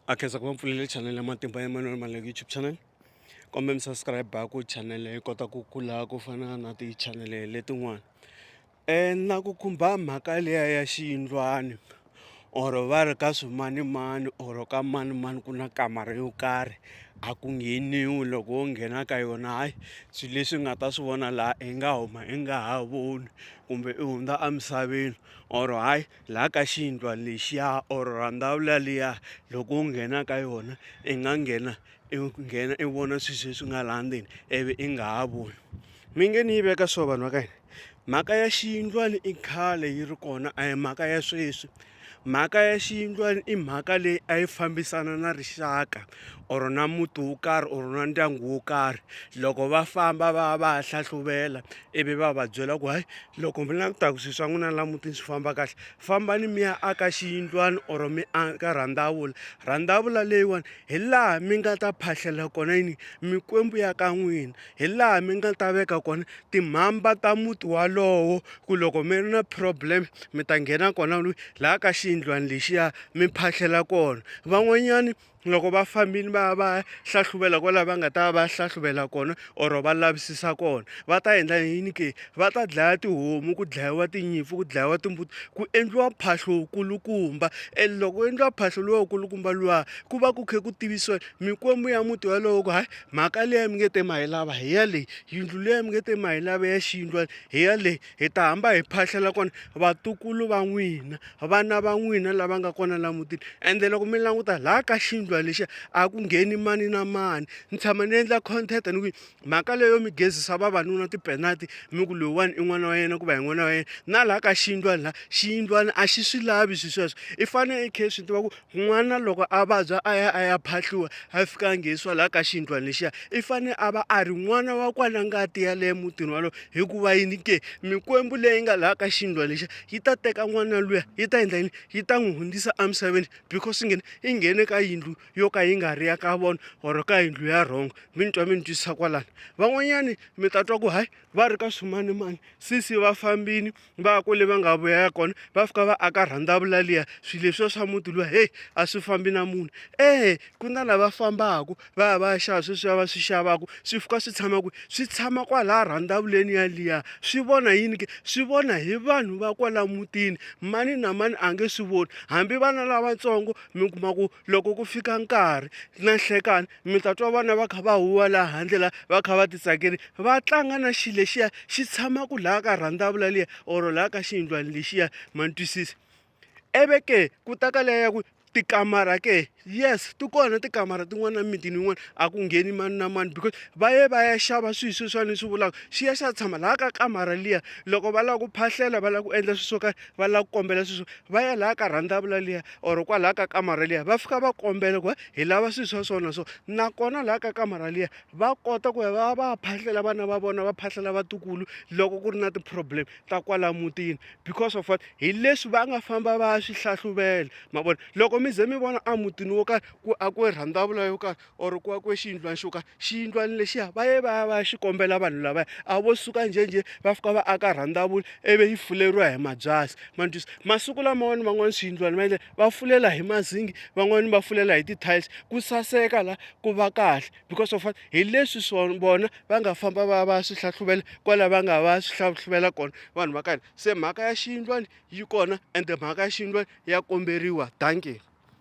a khensa ku va mpfulele channel ya matimba ya manuel maleko youtube channel kombe mi subscribe ku channel yi kota ku kula ku fana na ti-channel letin'wana um na ku khumba mhaka liya ya xiyindlwani or va ri ka swimanimani or ka manimani ku na kamara yo karhi a ku ngheniwi loko wo nghena ka yona hayi swilo leswi nga ta swi vona laha i nga huma i nga ha voni kumbe i hundza emisaveni or hayi. laha ka xiyindlwa lexiya or rhandhawu laliya loko u nghena ka yona i nga nghena i nghena i vona swilo leswi nga laha ndzeni ivi i nga ha voni mi nge ni yi veka so vanhu va ka hina mhaka ya xiyindlwana i khale yi ri kona a hi mhaka ya sweswi mhaka ya xiyindlwana i mhaka leyi a yi fambisana na rixaka or na muti wo karhi or na ndyangu wo karhi loko va famba va ya va ya hlahluvela ivi va va byela ku hayi loko mi langutaku swilo swa n'wina la mutini swi famba kahle fambani mi ya aka xiyindlwana or mi aka rhandavula rhandavula leyiwani hi laha mi nga ta phahlela kona yini mikwembu ya ka n'wina hi laha mi nga ta veka kona timhamba ta muti walowo ku loko mi ri na problem mi ta nghena kona laha ka xiyindlwana lexiya mi phahlela kona van'wanyani loko va fambini va ya va ya hlahluvela kwalaho va nga ta va hlahluvela kona or va lavisisa kona va ta endla yini ke va ta dlaya tihomu ku dlayiwa tinyimpfu ku dlayiwa timbuti ku endliwa mphahlo wukulukumba and loko ku endliwa mphahlo luwa wukulukumba luwa ku va ku khe ku tivisiwa mikwembu ya muti walowo ku hayi mhaka leyi mi nge te ma yi lava hi ya leyi yindlu leyi mi nge te ma yi lava ya xiyindlwana hi ya leyi Hi ta hamba hi phahlela kona vatukulu va n'wina, vana va n'wina lava nga kona la mutini. Ende loko mi languta laha ka xindlwa lexiya a ku ngheni mani na mani. Ni tshama ni endla content ni ku mhaka leyo mi gezisa vavanuna tipenati mi ku loyiwani i n'wana wa yena ku va hi n'wana wa yena, na laha ka xindlwani laha xiyindlwana a xi swi lavi swi sweswo. I fane i khe i swi tiva ku N'wana loko a vabya a ya a ya phahliwa a fika a nghenisiwa laha ka xiyindlwana lexiya i fane a va a ri n'wana wa kwala ngati ya le mutini walowo hikuva yini ke mikwembu leyi nga laha ka xiyindlwana lexiya yi ta teka n'wana luya yi ta endla yini yi ta n'wi hundzisa emisaveni because i nghene i nghene ka yindlu yo ka yi nga ri ya ka vona or ka yindlu ya wrong mi ni twa mi ni twisisa kwalano van'wanyani mi ta twa ku hayi va ri ka swimanimani sesi va fambini va kwele va nga vuya kona va fika va aka rhandavula liya swilo leswiya swa muti luwa heyi a swi fambi na munhu e ku na lava fambaku va ya va ya xava sweswiya va swi xavaku swi fika swi tshama kwihi swi tshama kwalaya rhandavuleni yaliya swi vona yini ke swi vona hi vanhu va kwala mutini mani na mani a nge swi voni hambi vana lavatsongo mi kuma ku loko ku fika nkarhi na nhlekani mi ta twa vana va kha va huwa laha handle la va kha va titsakeli va tlanga na xi lexiya xi tshama ku laha ka rhandavula liya or laha ka xiyindlwana lexiya ma ni twisisa eve ke ku ta ka leya ya ku tikamara ke yes ti kona tikamara tin'wana na mimitini yin'wana a ku ngheni mani na mani because va ye va ya xava swilo sweswiwani ni swi vulaka xi ya xi ya tshama laha ka kamara liya loko va lava ku phahlela va lava ku endla swilo swo karhi va lava ku kombela swilo swo va ya laha ka rhandavula liya or kwalaha ka kamara liya va fika va kombela ku hi lava swilo swa so na so nakona laha ka kamara liya va kota ku ya va va phahlela vana va vona va phahlela vatukulu loko ku ri na ti-problem ta kwala mutini because of what hi leswi va nga famba va ya swi hlahluvela ma vona loko mi ze mi vona a mutini wo karhi ku a ku rhandzavula yo karhi or ku akiwe xiyindlwana xo ka xiyindlwana lexiya va ye va ya va ya xi kombela vanhu lavaya a vo suka njhenjhe va fika va aka rhandavula ivi yi fuleriwa hi mabyasi ma ni twisa masiku laman'wani van'wani swiyindlwana va endlela va fulela hi mazingi van'wani va fulela hi ti-tiles ku saseka la ku va kahle because of hi leswi swona vona va nga famba va ya va ya swi hlahluvela kwala va nga va ya swi hlahluvela kona vanhu va ka hina se mhaka ya xiyindlwana yi kona ende mhaka ya xiyindlwana ya komberiwa dankie.